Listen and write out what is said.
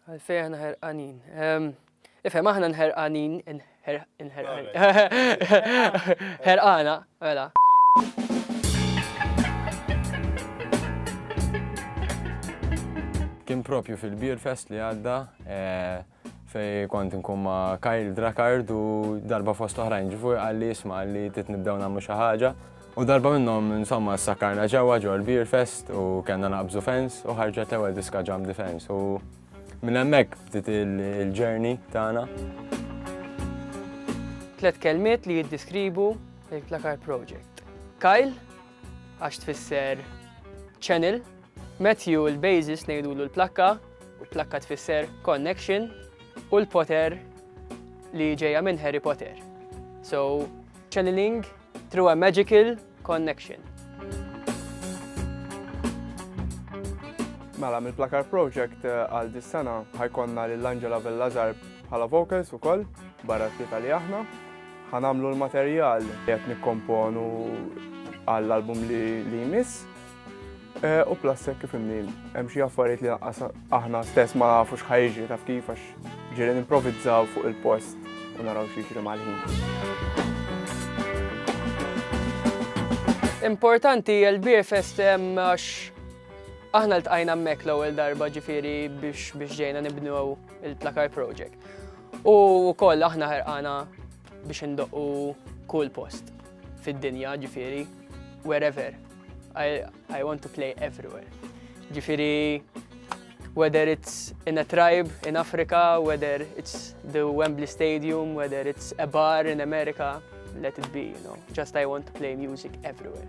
Għalfej aħna ħerqanin. Ehm, ifhem aħna nħerqanin, nħerqanin. Ħerqana, mela. Kien propju fil-Beer Fest li għadda eh, fej kont nkun ma' Kyle Drakard u darba fost oħrajn ġifu għalli jisma għalli tit nibdew namlu xaħġa. U darba minnom insomma s-sakarna ġewa ġol Beer Fest u kena naqbżu fens u ħarġet l-ewel diska ġam defense u minn emmek bdiet il-ġerni tagħna. Tlet kelmiet li jiddiskribu il-Plakar Project. Kyle, għax tfisser channel, Matthew il-basis ngħidulu l-plakka, u plakka tfisser connection, u l-poter li ġejja minn Harry Potter. So, channeling through a magical connection. Mela, mill-Plakar Project eh, għal dis-sena ħajkonna l-Angela Bellazar bħala vocals u koll, barra t-tita li aħna. Ħa nagħmlu l-materjal li qed nikkomponu għall-album li jmiss. E, u plus hekk kif imni, hemm xi affarijiet li aħna stess ma nafux ħajġi taf kif għax ġieli nimprovizzaw fuq il-post u naraw xi jiġri mal-ħin. Importanti l-Beer Fest għax aħna l-tqajna mek l-ewwel darba ġifieri biex ġejna nibnu il-Plakar Project. U wkoll aħna ħerqana biex indoqqu kull post fid-dinja, ġifieri wherever. I, I want to play everywhere. Ġifieri whether it's in a tribe in Africa, whether it's the Wembley Stadium, whether it's a bar in America, let it be, you know. Just I want to play music everywhere.